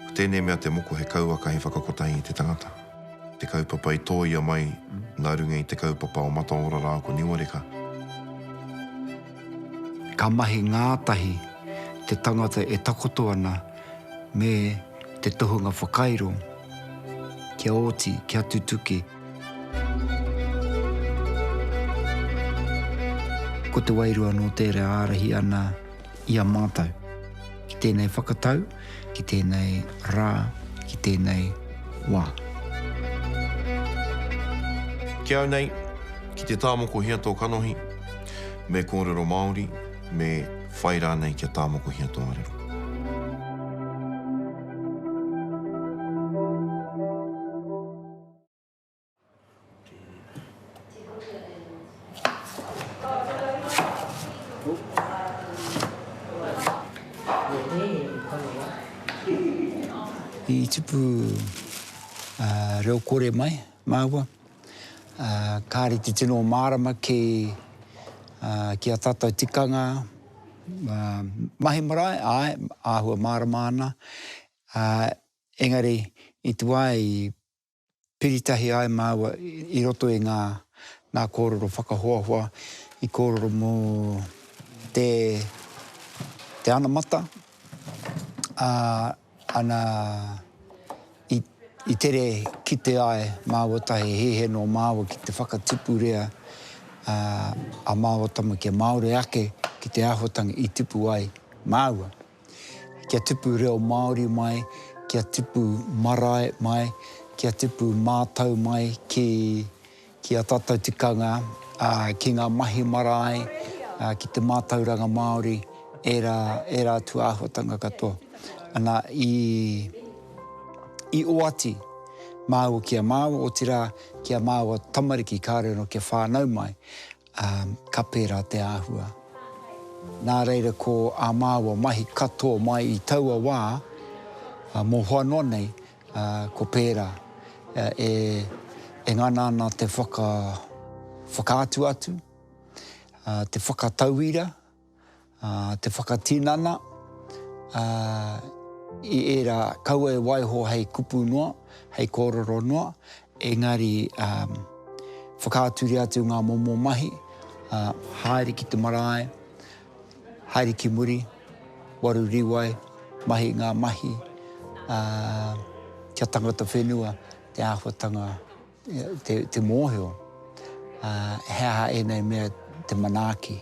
Ko tēnei mea te moko he kauaka hei whakakotahi i te tangata. Te kaupapa i tōia mai nā runga i te kaupapa o Mataora rā ko Niuareka. Ka mahi ngātahi te tangata e takoto ana me te tohunga whakairo kia oti, kia tutuki. Ko te wairua nō tērā ārahi ana i a mātou. Ki tēnei whakatau, ki tēnei rā, ki tēnei wā. Ki au nei, ki te tā mokohia tō kanohi, me kōrero Māori, me whai rānei kia tā mokohia tō arero. I tipu reo kore mai māua, kāre te tino mārama ki a tātou tikanga mahi marae, āe, āhua mārama ana. Engari, i tu ai, i piri tahi ai māua i roto i ngā, ngā kōrero whakahoahoa, i kōrero mō te, te anamata, ā, ana, i, i tere kite ai māua tahi he hē nō māua ki te whakatupurea, ā, a māua tama kia māore ake ki te āhuatanga i tipu ai māua. Kia tipu reo Māori mai, kia tipu marae mai, kia tipu mātau mai ki, ki a tātou tikanga, ā, ki ngā mahi marae, ā, ki te mātauranga Māori, ērā, ērā atu āhuatanga katoa. Ana, i, i oati māua ki a māua, otirā, ki a māua tamariki kāore anō kia whānau mai, Ā, ka pērā te āhua. Nā reira ko ā māua mahi katoa mai i taua wā, ā, mohoa noa nei, ā, ko pērā, ā, e, e ngana ana te whaka, whakaatu atu, ā, te whakatauira, Te whakatinana i ērā kaua e waiho hei kupu noa, hei kōrero noa, engari whakaaturia atu ngā momo mahi, haere ki te marae, haere ki muri, waru riwai, mahi ngā mahi, kia tangata whenua te āhuatanga. Te mōhio, he aha ēnei mea te manaaki?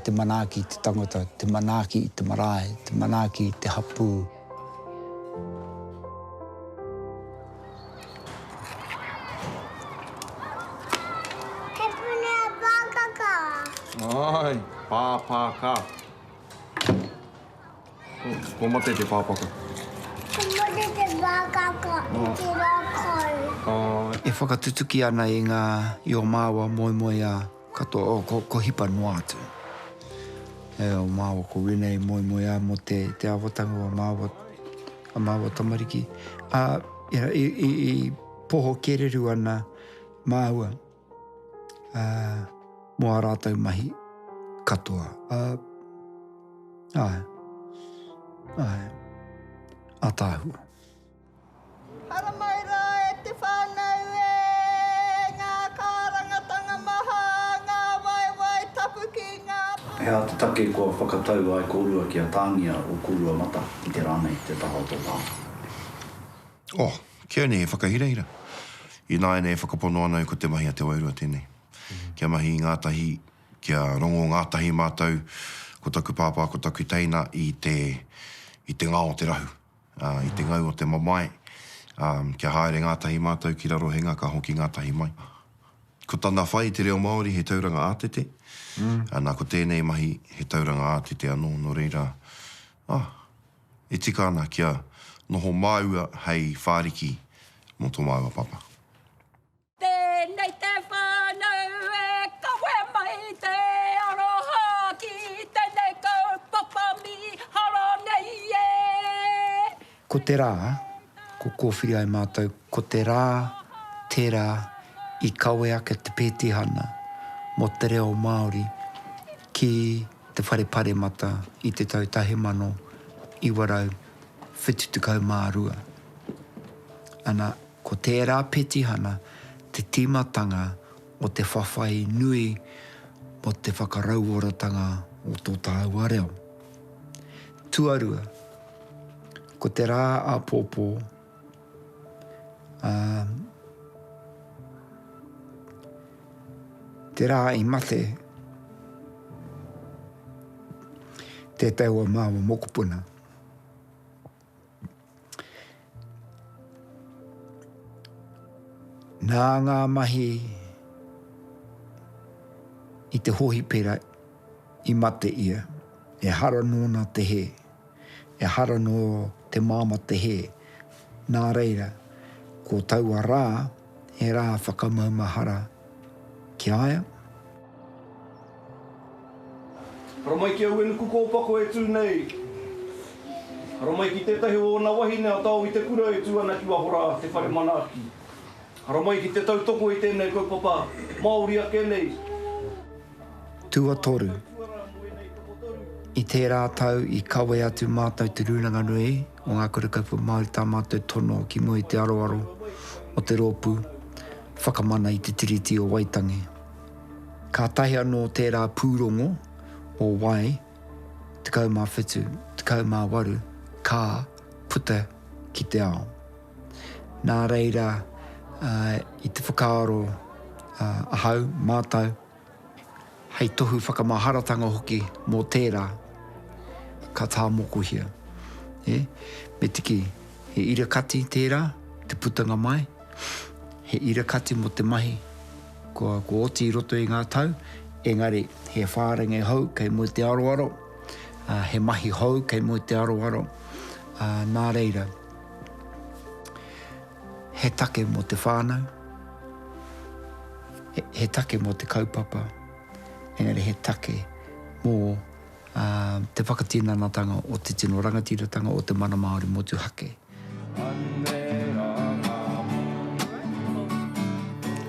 Te manaaki i te tangata, te manaaki i te marae, te manaaki i te hapū. He puni a Pāpākā. Āe, Pāpākā. Kua mate te pāpaka. Kua mate te pāpaka i te rākau. E whakatutuki ana i ngā i o māua moemoeā katoa, oh, ko, ko hipa noa atu. E o māua ko wēnei moemoeā mō te, te āwatanga o a māua, a māua tamariki. Ā, i, i, i poho kereru ana māua. uh, mō a rātou mahi katoa. Uh, ai, ai, a tāhua. Haramai rā e te whānau e, ngā kārangatanga maha, ngā waewae tapu ki ngā pā. He aha te take kua whakatau ai kōrua kia tāngia o kōrua mata i te rā nei te taha o tō tāngata? Oh, kia nei he whakahirahira. Ināianei e whakapono ana au ko te mahi a te wairua tēnei. Kia mahi i ngātahi, kia rongo ngātahi mātou, ko taku pāpā, ko taku teina i te, i te ngao o te rahu, ā, i te ngau o te mamae, ā, kia haere ngātahi mātou ki raro he nga ka hoki ngātahi mai. Ko tana whai i te reo Māori he tauranga ātete, ana ko tēnei mahi he tauranga ātete anō, nō reira, ah, E tika ana kia noho māua hei whāriki mō tō māua papa. Tēnei te whānau e kawe mai te aroha ki tēnei kaupapa mīharo nei e. Ko te rā, ko kōwhiri ai mātou, ko te rā tērā i kawe ake te pētihana mō te reo Māori ki te Whare Paremata i te tau 1972. Ana, ko tērā petihana te tīmatanga o te whawhai nui mō te whakarauoratanga o tō tāua reo. Tuarua, ko te rā āpōpō, Ā, te rā i mate tētahi o māua mokopuna, nā ngā mahi i te hohipera i mate ia, ehara nōna te hē. ehara nō te māmā te hē. Nā reira, ko taua rā he rā whakamaumahara ki a ia. Hara mai ki au e nuku kōpako e tū nei. Hara mai ki tētahi o ōna wahine a Tao i te kura e tū ana ki waho rā, te whare manaaki. Hara mai ki te tautoko i tēnei kaupapa Māori ake nei. Tuatoru. I tērā tau i kawe atu mātou te Rūnanga Nui o Ngā Kura Kaupapa Māori tā mātou tono ki mua i te aroaro o te rōpū Whakamana i te Tiriti o Waitangi. Kātahi anō tērā pūrongo o Wai 17, 18 ka puta ki te ao. Nā reira, i te whakaaro ahau, mātau, hei tohu whakamaharatanga hoki mō tērā, ka tāmokohia. E, me tiki, he ira kati tērā, te putanga mai, he ira kati mō te mahi kua, kua oti i roto i ngā tau, engari, he whārenge hou kei mua i te aroaro, he mahi hou kei mua i te aroaro, nā reira. He take mō te whānau, he take mō te kaupapa, engari he take mō te whakatinanatanga o te tino rangatiratanga o te mana Māori motuhake.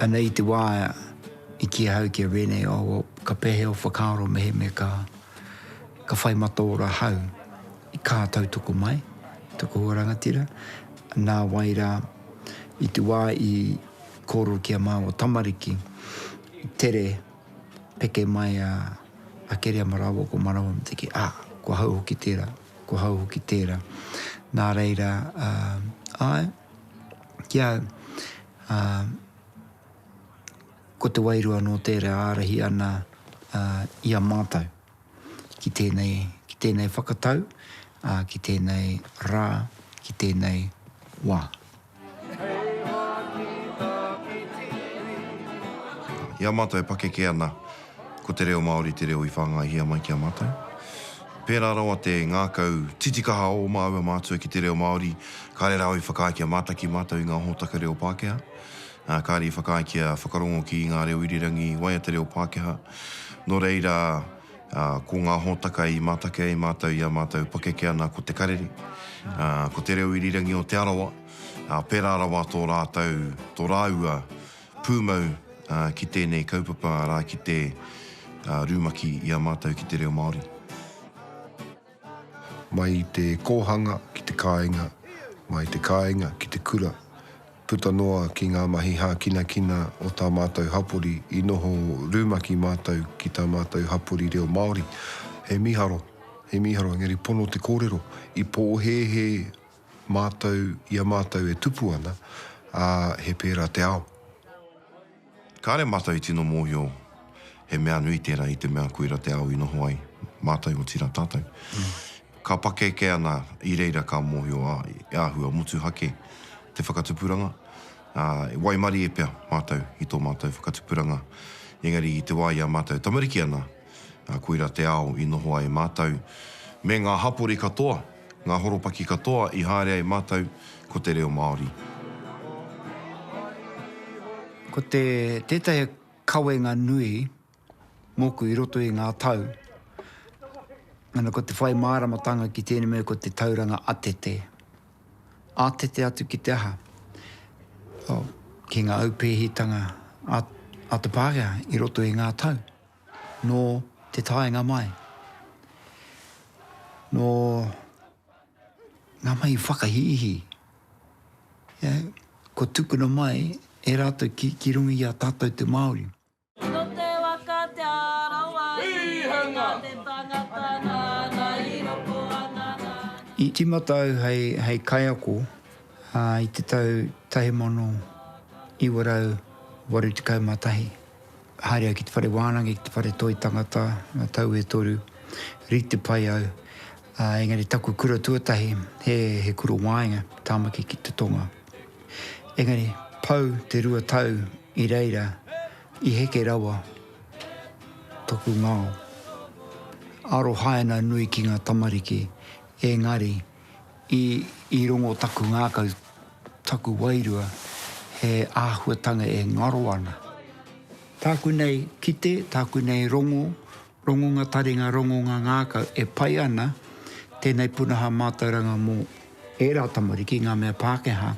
Anei te wā i kī ahau ki a Rene, oh, ka pēhea o whakaaro mehemea ka whai mataora hau. I kā tautoko mai, toko ua rangatira, nā wai rā, i te wā i kōrero ki a māua tamariki, tere, peke mai a Keriama rāua ko Manawa me te kī, ā, ko hau hoki tērā, ko hau hoki tērā. Nā reira, āe, ki a au, ko te wairua anō tērā e ārahi ana i a mātou. ki tēnei, ki tēnei whakatau, ā, ki tēnei rā, ki tēnei wā. I a mātou e pakeke ana, ko te reo Māori te reo i whāngaihia mai ki a mātou. Pērā rawa te ngākau titikaha o māua mātua ki te reo Māori, kāre rāua i whakaae kia mātaki mātou i ngā hōtaka reo Pākehā. Ā, kāre i whakaae kia whakarongo ki ngā reo irirangi i waia te reo Pākehā. Nō reira, ā, ko ngā hōtaka i mātaki ai mātou i ā mātou pakeke ana ko te karere, ā, ko te reo irirangi o Te Arawa, ā, pērā rawa tō rātou, tō rāua pūmau, ā, ki tēnei kaupapa, arā, ki te, ā, rumaki i a mātou ki te reo Māori. Mai i te kōhanga ki te kāinga, mai i te kāinga ki te kura, puta noa ki ngā mahi hākinakina o tā mātou hapori i noho rumaki mātou ki tā mātou hapori reo Māori. He mīharo, he mīharo, engari pono te kōrero, i pōhēhē mātou i a mātou e tupu ana, ā, he pērā te ao. Kāre mātou i tino mōhio he mea nui tērā i te mea koira te ao i noho ai, mātou otirā tātou. Ka pakeke ana i reira ka mōhio a e āhua motuhake te whakatupuranga, ā, e waimarie pea mātou i tō mātou whakatupuranga, engari i te wā i a mātou tamariki ana, Ā, koirā te ao i noho ai mātou, me ngā hapori katoa, ngā horopaki katoa i haere ai mātou, ko te reo Māori. Ko te, tētahi kawenga nui mōku i roto i ngā tau, ana, ko te whai māramatanga ki tēnei mea ko te tauranga atete. Atete atu ki te aha? Oh, ki ngā aupēhitanga a, a te Pākehā i roto i ngā tau. Nō te taenga mai, nō ngā mahi whakahīhī, kua tukuna mai e rātou ki runga i a tātou te Māori. Nō te waka Te Arawa i runga te tangata nāna i roko ana nāna. I tīmata au hei kaiako i te tau 1981. Haere au ki te whare wānanga, ki te whare toi tangata, ngā tau e toru, rite pai au. Ā, engari taku kura tuatahi, he, he kura wāenga, Tāmaki ki te Tonga. Engari, pau te rua tau i reira, i heke rawa taku ngao. Arohaina nui ki ngā tamariki, engari, I rongo taku ngākau, taku wairua, he āhuatanga e ngaro ana. Tāku nei kite, tāku nei rongo, rongonga taringa, rongonga ngākau e pai ana, tēnei punaha mātauranga mō ērā tamariki, ngā mea Pākehā,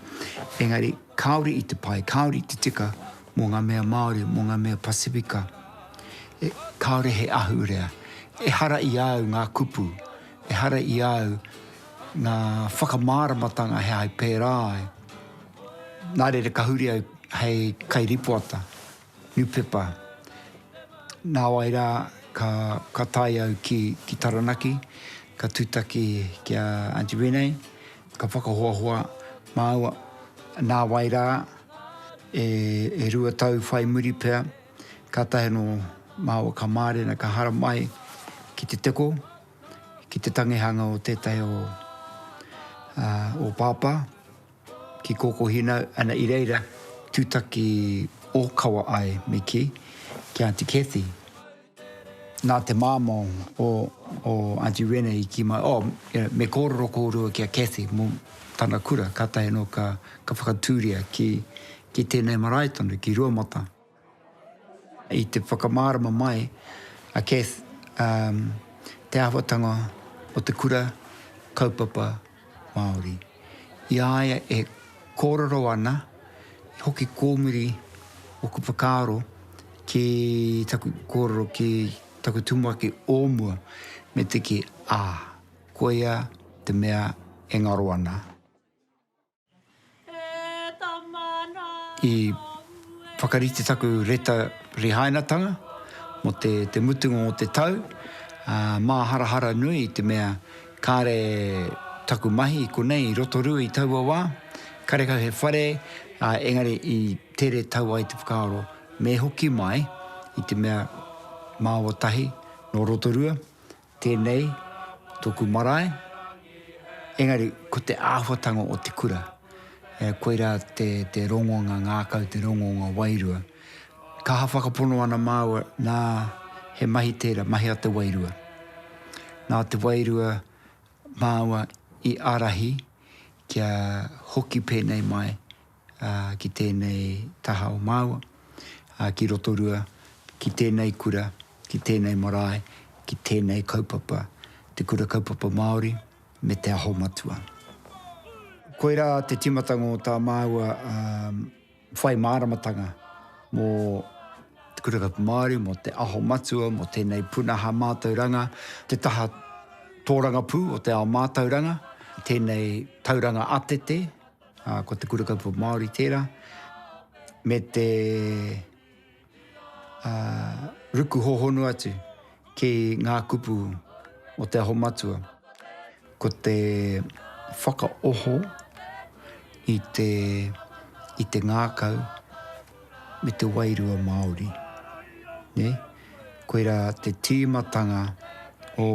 engari kāore i te pai, kāore i te tika mō ngā mea Māori, mō ngā mea Pasifika. Kāore he ahurea. Ehara i a au ngā kupu Ehara i a au ngā whakamāramatanga he aha i pērā ai. Nā reira ka huri au hei kairīpoata, niupepa. Nāwai rā ka ka tae au ki ki Taranaki, ka tūtaki ki a Aunty Renee, ka whakahoahoa māua. Nāwai rā e e rua tau whai muri pea, Kātahi anō māua ka mārena, ka haramai ki te teko, ki te tangihanga o tētahi o ō pāpā, ki Kōkōhina, ana i reira tūtaki ōkawa ai me kī, ki Aunty Cathy. Nā te māmā o Aunty Rene i kī mai, oh, me kōrero kōrua ki a Cathy mō tana kura, kātahi anō ka whakatūria ki Ki tēnei marae tonu, ki Ruamata. I te whakamārama mai a Cath, te āhuatanga o te kura kaupapa Māori, i a ia e kōrero ana, i hoki kōmuri ōku whakaaro ki taku kōrero ki taku tumuaki o mua, me te kī, ā, koia te mea e ngaro ana. I whakarite taku reta rihainatanga mo te mutunga o te tau, a, māharahara nui i te mea kāre taku mahi i konei i Rotorua i taua wā, karekau he whare, a, engari i tere tau ai te whakaaro me hoki mai i te mea māua tahi no Rotorua, Tēnei tōku marae, engari ko te āhuatanga o te kura, koirā te rongonga ngākau, te rongonga wairua. Ka aha whakapono ana māua, nā, he mahi tērā, mahi a te wairua. Nā te wairua māua i ārahi kia hoki pēnei mai ki tēnei taha o māua, ki Rotorua, ki tēnei kura, ki tēnei marae, ki tēnei kaupapa, Te Kura Kaupapa Māori me Te Aho Matua. Koirā te timatanga o tā māua whai māramatanga mō Te Kura Kaupapa Māori, mō Te Aho Matua, mō tēnei punaha mātauranga, te taha tōrangapū o te ao mātauranga, tēnei tauranga atete, Ā, ko te kura kaupapa Māori tērā, me te ā, ruku hōhonu atu ki ngā kupu o Te Aho Matua. Ko te whakaoho i te, i te ngākau me te wairua Māori. Nē? Koirā te tīmatanga o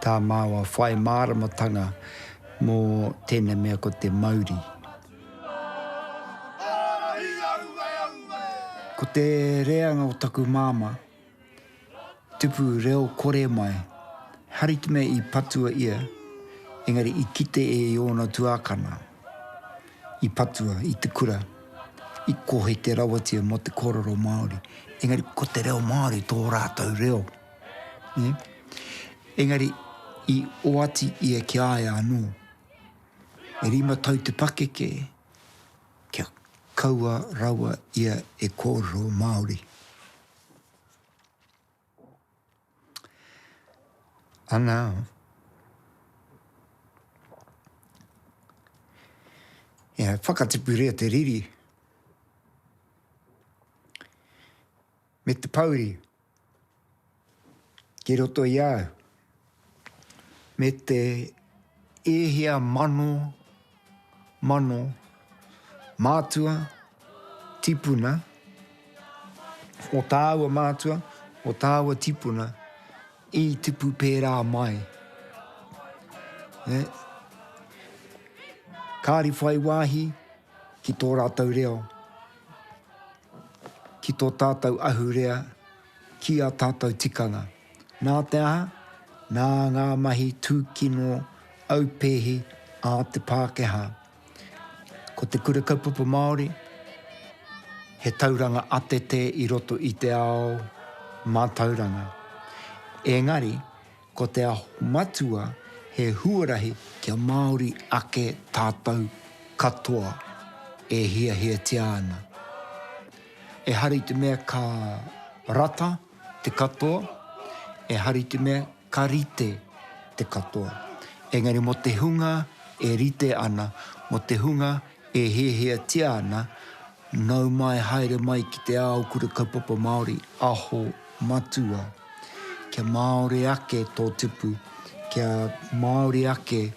tā māua whai māramatanga mō tēnei mea ko te mauri. Ko te reanga o taku māmā, tupu reo kore mai, hari te mea i patua ia, engari i kite e i ōna tuākana. i patua i te kura, i kohete rawatia mō te kōrero Māori. Engari, ko te reo Māori tō rātou reo. Ne? Engari, i oati ia ki a ia anō. E rima tau te pakeke, kia kaua rawa ia e kōrero Māori. Ana, e whakatipuria te riri, me te pauri, ki roto i au, me te e hia mano, Mano, mātua, tipuna, o tāua mātua, o tāua tipuna, i tipu pērā mai. Kāri whai wāhi ki tō rātou reo, ki tō tātou ahurea, ki ā tātou tikanga. Nā te aha? Nā ngā mahi tūkino aupēhi a te Pākehā. Ko te Kura Kaupapa Māori, he tauranga atete i roto i te ao mātauranga. Engari, ko te aho matua he huarahi kia Māori ake tātou katoa e hiahiatia ana. Ehara i te mea ka rata te katoa, ehara i te mea ka rite te katoa. Engari mō te hunga e rite ana, mō te hunga e hiahiatia ana, nau mai, haere mai ki te ao Kura Kaupapa Māori, aho matua, kia Māori ake tō tupu, kia Māori ake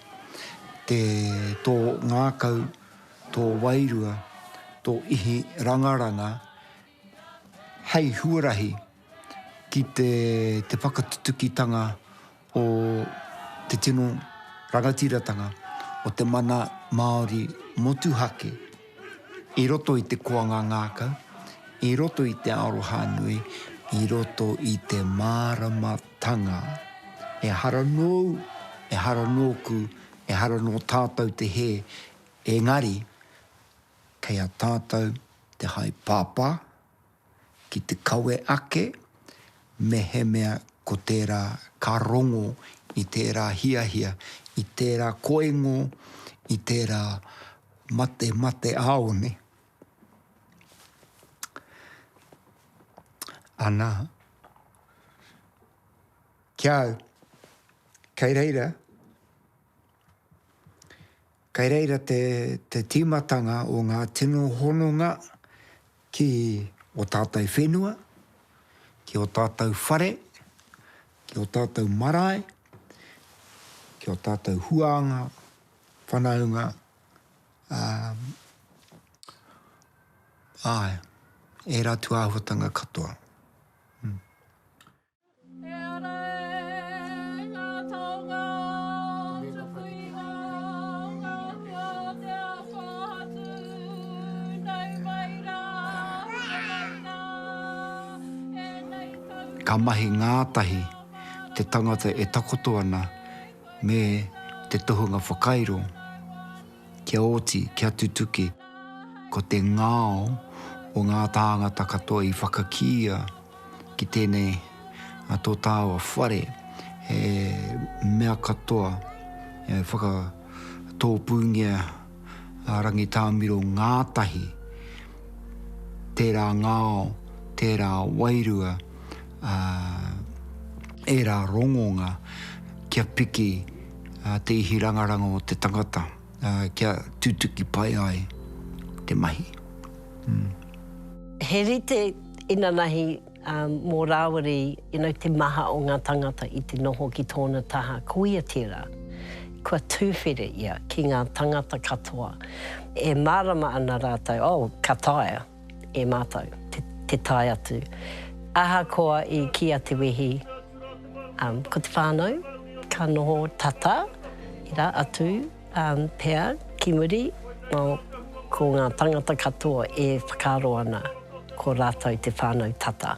te, tō ngākau, tō wairua, tō ihi rangaranga, hei huarahi ki te whakatutukitanga o te tino rangatiratanga o te mana Māori motuhake i roto i te koanga ngākau, i roto i te aroha nui, i roto i te māramatanga. Ehara nōu, ehara nōku, ehara nō tātou te hē, engari, Kei a tātou te haepāpā ki te kawe ake mehemea ko tērā ka rongo i tērā hiahia, i tērā koingo, i tērā matemateāone. Anā, ki a au, kei reira, Kei reira te te tīmatanga o ngā tino hononga ki o tātou whenua, ki o tātou whare, ki o tātou marae, ki o tātou huānga, whanaunga, ā, āe, ērā tūāhuatanga katoa. Ka mahi ngātahi te tangata e takoto ana me te tohunga whakairo kia oti, kia tutuki. Ko te ngao o ngā tāngata katoa i whakakīia. ki tēnei a tō tāua whare he mea katoa e whakatōpūngia a Rangitāmiro ngātahi tērā ngao, tērā wairua, ā, ērā rongonga kia piki te ihirangaranga o te tangata. Kia tutuki pai ai te mahi. He rite inanahi mō Rāwiri te maha o ngā tangata i te noho ki tōna taha, koia tērā. Kua tūwhere ia ki ngā tangata katoa. E mārama ana rātou, oh, ka taea. e mātou, te tae atu. Ahakoa i kīia te wehi, ko te whānau ka noho tata, ira atu pea ki muri, ko ngā tangata katoa e whakaaro ana ko rātou te whānau tata.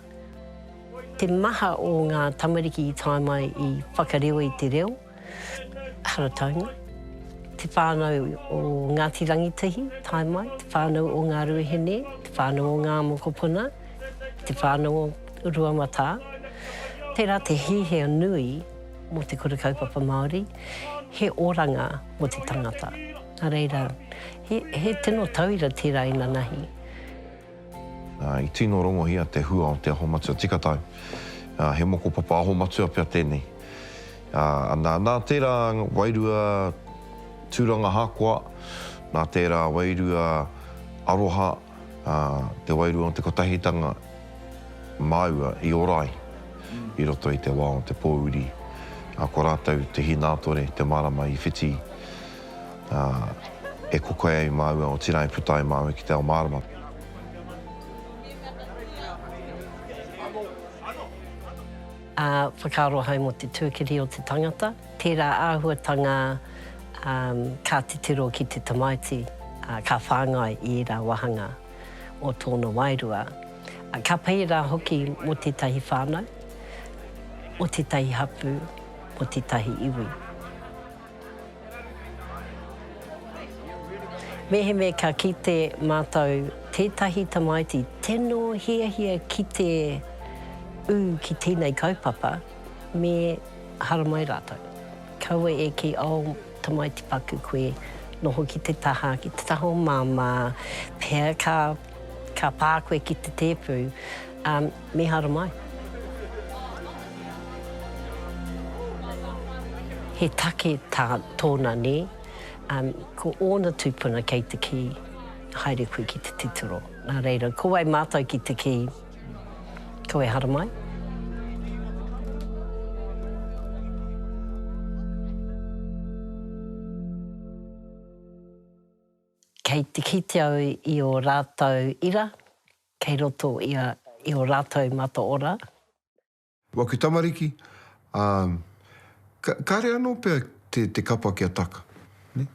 Te maha o ngā tamariki i tae mai i whakareo i te reo, Harataunga, te whānau o Ngāti Rangitahi, tae mai, te whānau o Ngā Ruahine, te whānau o Ngā Mokopuna, te whānau o Ruamatā. Tērā te hīhia nui mō te kura kaupapa Māori, he oranga mō te tangata. Nā reira, he tino tauira tērā inanahi. I tino rongohia te hua o Te Aho Matua Tika Tau. He mokopapa aho matua pea tēnei. Nā, nā tērā wairua tūrangahakoa, nā tērā wairua aroha, te wairua o te kotahitanga māua i ora ai i roto i te wā o te pōuri. Ko rātou te hinātore, te marama i whiti ā, e kokoe ai māua, otirā e puta ai māua ki te ao mārama. Ā, whakaaro ahau mō te tuakiri o te tangata, tērā āhuatanga, ā, ka titiro ki te tamaiti, ā, ka whāngai i ērā wāhanga o tōna wairua, ā, ka pai rā hoki mō tētahi whānau, mō tētahi hapū, mō tētahi iwi. Mehemea ka kite mātou tētahi tamaiti tino hiahia ki te ū ki tēnei kaupapa, me haramai rātou. Kaua e kī, Oh, tamaiti paku koe, noho ki te taha, ki te taha o Māmā, pea ka pā koe ki te tēpu. Me haramai. He take tā tōna nē. Ko ōna tūpuna kei te kī, Haere koe ki te titiro. Nā reira, ko wai mātou ki te kī, Ko e haramai? Kei te kite au i ō rātou ira, Kei roto ia i o ratou mataora. Waku tamariki, a, ka, kare ano pea te, te kapa kia taka. Ne?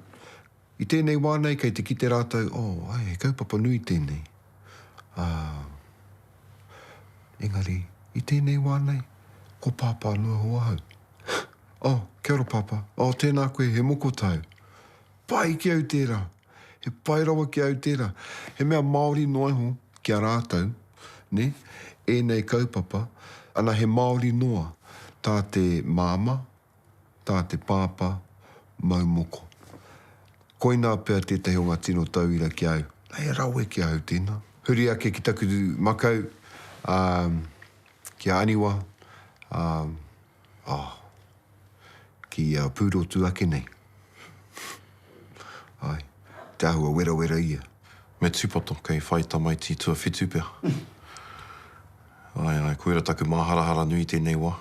I tenei wa nei kei te kite ratou, oh, ai, he kaupapa nui tenei. A, engari, i tenei wa nei, ko Papa ano e ho ahau. Oh, kia ora Papa. Oh, tena koe, he moko tau. Pai ki au tera. He pai rawa ki a au tērā. He mea Māori noa iho ki a rātou, nē, ēnei kaupapa, ana he Māori noa tā te māmā, tā te pāpā mau moko. Koinā pea tētahi o ngā tino tauira ki a au. He rawe ki a au tēnā. Huri ake ki taku makau, ā, ki a Aniwa, ā. Ah. Ki a Pūrotu ake nei. Ae. Te āhua werawera ia. Me tūpato, kei whai tamaiti tuawhitu pea. Ae, ae, koira taku māharahara nui tēnei wā.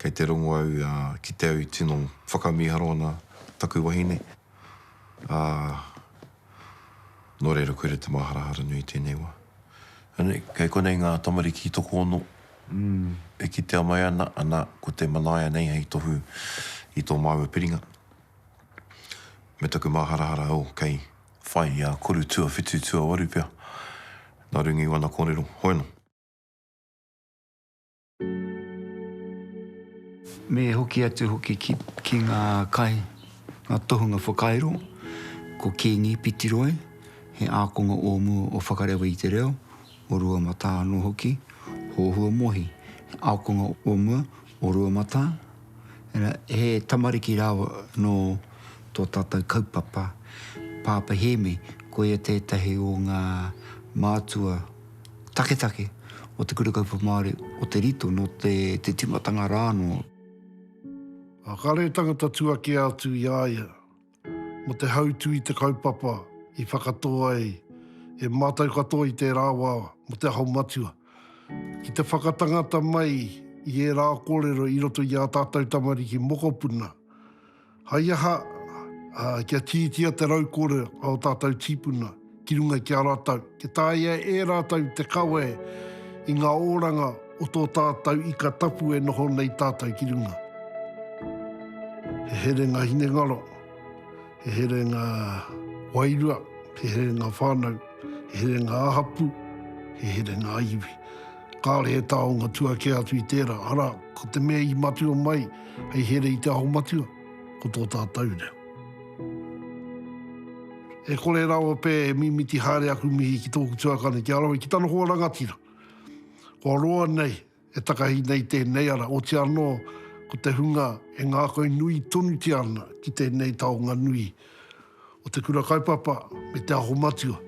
Kei te rongo au ki te au i tino whakamīharo ana taku wahine. Ah, Nō reira koe re te māharahara nui tēnei wā. Anei, kei konei ngā tamariki tokoono e kitea mai ana, ana, ko te manaia nei hei tohu i tō māua piringa. Me taku māharahara, oh, kei whai i a koru tuawhitu, tuawaru pea, nā runga i wana kōrero. Hoena. Me hoki atu hoki ki, ki ngā kai, ngā tohunga whakairo, ko Kīngi Pitiroi, he ākonga o mua o Whakarewa i te Reo, o Ruamatā anō hoki, Hōhua Mohi, he ākonga o mua o Ruamatā, ina, he tamariki rāua nō tō tātou kaupapa, Pāpa Hēmi, koia tētahi o ngā mātua, taketake o te Kura Kaupapa Māori, o Te Rito, nō te tīmatanga rā anō. Ā, kāre he tangata tuakea atu i a ia mō te hautū i te kaupapa i whakatō ai e mātou katoa i tērā wā mō Te Aho Matua. Ki te whakatangata mai i ērā kōrero i roto i ā tātou tamariki mokopuna, Hai aha, ā, kia tītia te rau kore a ō tātou tīpuna ki runga ki a rātou, kia tāia e rātou te kawe i ngā oranga o tō tātou ika tapu e noho nei tātou ki runga. He herenga hinengaro, he herenga wairua, he herenga whānau, he herenga ā-hapū, he herenga ā-iwi. Kāore he taonga tua kē atu i tērā, arā, ko te mea i matua mai, Hei here i te aho matua, ko tō tātou reo. E kore rawa pē e mimiti haere aku mihi ki tōku tuakana, ki a rawe, ki tana hoa rangatira. Kua roa nei, e takahi nei tēnei ara, oti anō, ko te hunga e ngākau nui tonutia ana ki tēnei taonga nui. o Te Kura Kaupapa me Te Aho Matua.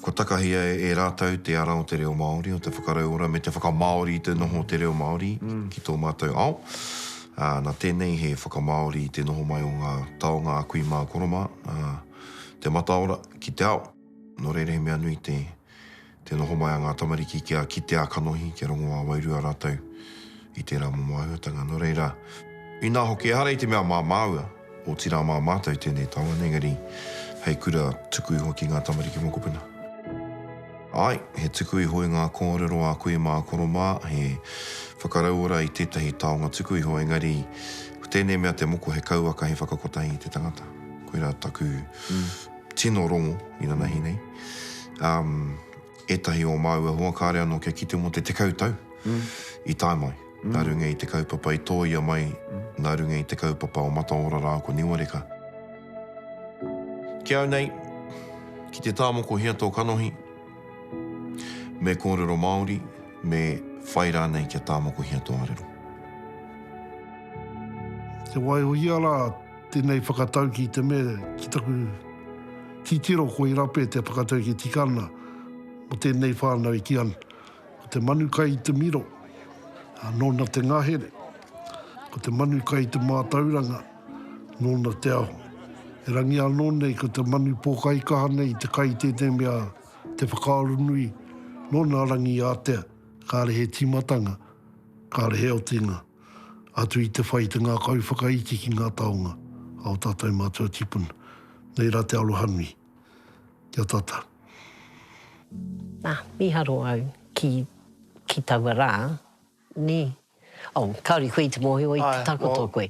Kua takahia e rātou te ara o te reo Māori, o te whakarauora me te whakamāori i te noho o te reo Māori ki tō mātou ao. Nā tēnei he whakamāori i te noho mai o ngā taonga a kui mā koro mā, te mataora ki te ao. Nō reira he mea nui te Te noho mai a ngā tamariki kia kite ā-kanohi, kia rongo ā-wairua rātou i tērā momo āhuatanga. Nō reira, inā hoki ehara i te mea mā māua, otirā mā mātou tēnei taone, engari hei kura tuku iho ki ngā tamariki mokopuna. Āe, he tuku iho i ngā kōrero a koe mā koro mā, he whakarauora i tētahi taonga tuku iho, engari ko tēnei mea te moko he kauaka, he whakakotahi i te tangata. Koirā taku tino rongo inanahi nei. Um, etahi o māua hoa kāre anō kia kite mō te tekau tau mm. i tae mai. Mm. Nā runga i te kaupapa i tōia mai, mm. nā runga i te kaupapa o Mataora rā ko Niwareka. Ki au nei, ki te tāmoko hea tō kanohi, me kōrero Māori, me whai rānei kia tāmoko hea tō arero. Te waihoia rā, Tēnei whakatauki i te mea ki taku titiro ko Irape te whakatauki tika ana mo tēnei whānau i Tiana. Ko te manu kai i te miro, nōna te ngahere, ko te manu kai i te mātauranga, nōna te aho. Erangi anō nei ko te manu pōkaikaha nei i te kai i tēnei mea te whakaaro nui, nōna rangi ātea, kāre he tīmatanga, kāre he otinga. Atu i te whai i te ngākau whakaiti ki ngā taonga a o tātou mātua tipuna. Nei rā te arohanui. Kia tata. Nā, miharo au ki, ki taua rā, nē? Oh, kāore koe i te mōhio i te takoto koe.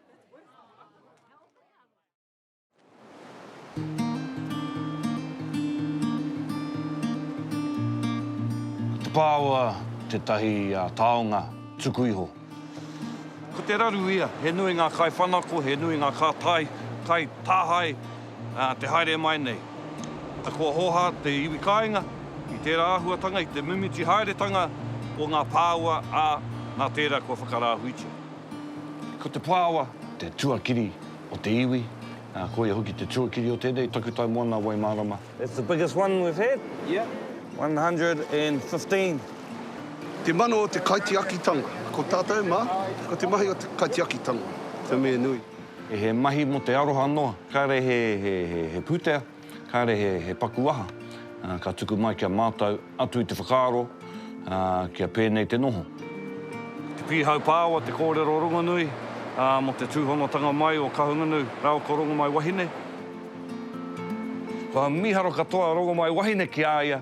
Te pāua tētahi taonga tuku iho. Ko te raru ia, he nui ngā kaiwhanako, he nui ngā kātai, kai, tāhae, te haere mai nei. Kua hōhā te iwi kāinga i tērā āhuatanga, i te mimiti haeretanga o ngā pāua, ā, nā tērā kua whakarāhuitia. Ko te Pāoa te tuakiri o te iwi, ā, ko ia hoki te tuakiri o tēnei takutai moana Waimārama. That's the biggest one we've had. Yeah. 115. Te mano o te kaitiakitanga. Ko tātou mā, ko te mahi o te kaitiakitanga te mea nui. He mahi mō te aroha noa, kāre he pūtea. Kāre he paku aha ka tuku mai ki a mātou atu i te whakaaro kia pēnei te noho. Te Pīhau Pāoa, te kōrero rongonui mō te tūhonotanga mai o Kahungunu rāua ko Rongomaiwahine. Kua mīharo katoa a Rongomaiwahine ki a ia,